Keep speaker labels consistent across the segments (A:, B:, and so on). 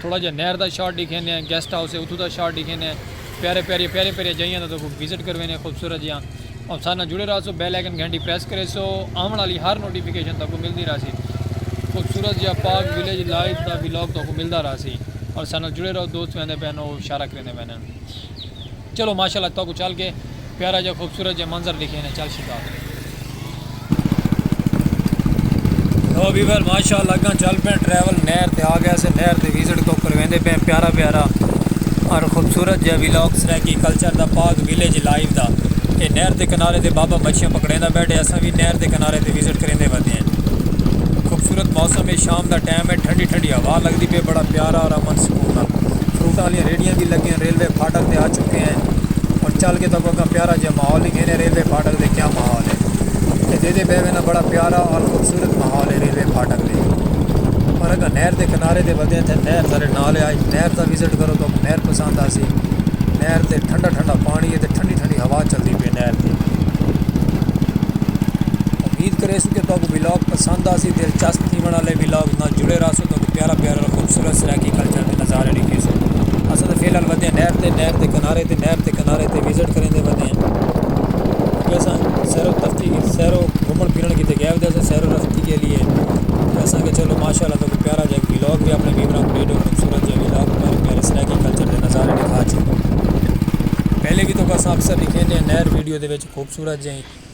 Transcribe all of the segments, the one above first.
A: تھوڑا جیہا نہر دا شاٹ ڈیکھیندے ہیں گیسٹ ہاؤس ہے اتھوں دا شاٹ ڈیکھیندے ہیں پیارے پیارے پیارے پیارے جائیاں دا تکو وزٹ کرویندے ہیں خوبصورت جیاں اور سارے نال جڑے رہا سو بیل آئیکن گھنٹی پریس کرے سو آون والی ہر نوٹیفیکیشن تکو ملدی رہا سی خوبصورت جیہا پاک ویلیج لائف دا ویلاگ تکو ملدا رہا سی اور سارے نال جڑے رہو دوست ویندے پہنو شارہ کریندے پہنے چلو ماشاءاللہ تہاکوں چل کے پیارا جیہا خوبصورت جیہا منظر ڈکھے نے چل شکا لو ویور ماشاءاللہ اگاں چل پے ٹریول نہر تے آ گیا سے نہر تے وزٹ کو کرویندے پے پیارا پیارا اور خوبصورت جیہا ویلاگ سرائیکی کلچر دا پاک ویلیج لائیو دا اے نہر دے کنارے تے بابا مچھیاں پکڑیندا بیٹھے اساں وی نہر دے کنارے تے وزٹ کریندے ودے ہیں خوبصورت موسم ہے شام دا ٹائم ہے ٹھنڈی ٹھنڈی ہوا لگدی پے بڑا پیارا اور امن سکون نال فروٹاں آلیاں ریڑھیاں وی لگیاں ریلوے پھاٹک تے آ چکے ہیں اور چل کے تو اگاں پیارا جہاں ماحول ہی گھنے ریلوے پھاٹک دے کیا ماحول ہے یہ دے دے بے وینا بڑا پیارا اور خوبصورت ماحول ہے ریلوے پھاٹک دے اور اگاں نہر دے کنارے دے ودے ہیں تھے نہر سارے نالے آج نہر دا وزٹ کرو تو نہر پسند آسی نہر دے ٹھنڈا ٹھنڈا پانی ہے تے ٹھنڈی ٹھنڈی ہوا چل دی پہ نہر دے امید کرے سو کہ تو اگاں ویلاگ پسند آسی دلچسپ تھی بنا لے ویلاگ نہ جڑے رہا سو تو پیارا پیارا خوبصورت خوبصورت سرائیکی کلچر دے نظارے ݙیکھیسن۔ اساں تاں فی الحال ودے ہیں نہر تے، نہر دے کنارے تے، نہر دے کنارے تے وزٹ کریندے ودے ہیں۔ کیونکہ اساں سیر و تفریح، سیر و گھمݨ پھرݨ کیتے ڳئے ہوندے ہیں، سیر و تفریح کے لیے۔ اساں کہا چلو ماشاء اللہ تاکوں پیارا جا ولاگ وی اپݨے ویوراں کوں ݙے ݙیؤں، خوبصورت جا ولاگ پیارے پیارے سرائیکی کلچر دے نظارے ݙیکھا چھیڑدوں۔ پہلے وی تاکوں اساں اکثر ݙیکھیندے ہیں نہر ویڈیو دے وچ خوبصورت جئیں۔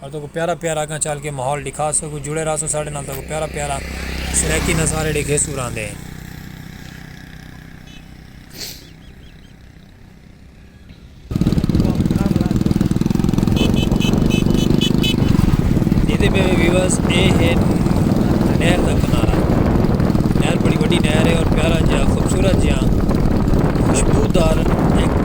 A: تہاکوں پیارا پیارا اگاں چل کے ماحول ڈکھا سگوں جڑے رہسوں ساڈے نال تہاکوں پیارا پیارا سرائیکی نظارے ڈکھیسوں راندے۔ ڈیکھدے پے ہو ویورز اے ہے نہر دا کنارہ نہر بڑی وڈی نہر ہے اور پیارا جیہاں خوبصورت جیہاں خوشبودار ایک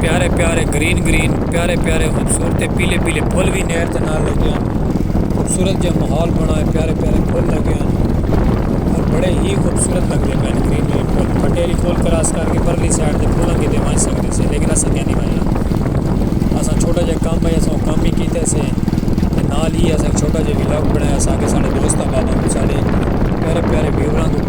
A: پیارے پیارے گرین گرین پیارے پیارے خوبصورت پیلے پیلے پھل وی نہر دے نال لگے ہن خوبصورت جیہاں ماحول بݨا ہے پیارے پیارے پھل لگے ہن اور بڑے ہی خوبصورت لگدے پئے ہن گرین گرین پھل پھٹیری پھل کراس کر کے پرلی سائیڈ تے پھلاں کیتے ونڄ سڳدے سے لیکن اساں کیا نی ونڄݨا اساں چھوٹا جیہا کم ہے اساں او کم ہی کیتے سے تے نال ہی اساں چھوٹا جیہا ولاگ بݨایا ساکے ساݙے دوست آباد آن ساݙے پیارے پیارے ویوراں کوں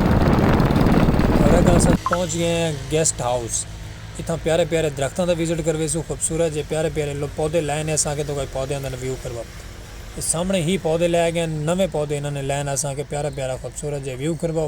A: ہورے تاں اساں پہنچ گئے ہیں گیسٹ ہاؤس اتھاں پیارے پیارے درختاں دا وزٹ کرویسوں خوبصورت جے پیارے پیارے لوگ پودے لائے نے اساں کے تو کئی پودیاں دا ویو کروا سامنے ہی پودے لائے گئے نویں پودے انہاں نے لائے نے اساں کے پیارا پیارا خوبصورت جے ویو کروا۔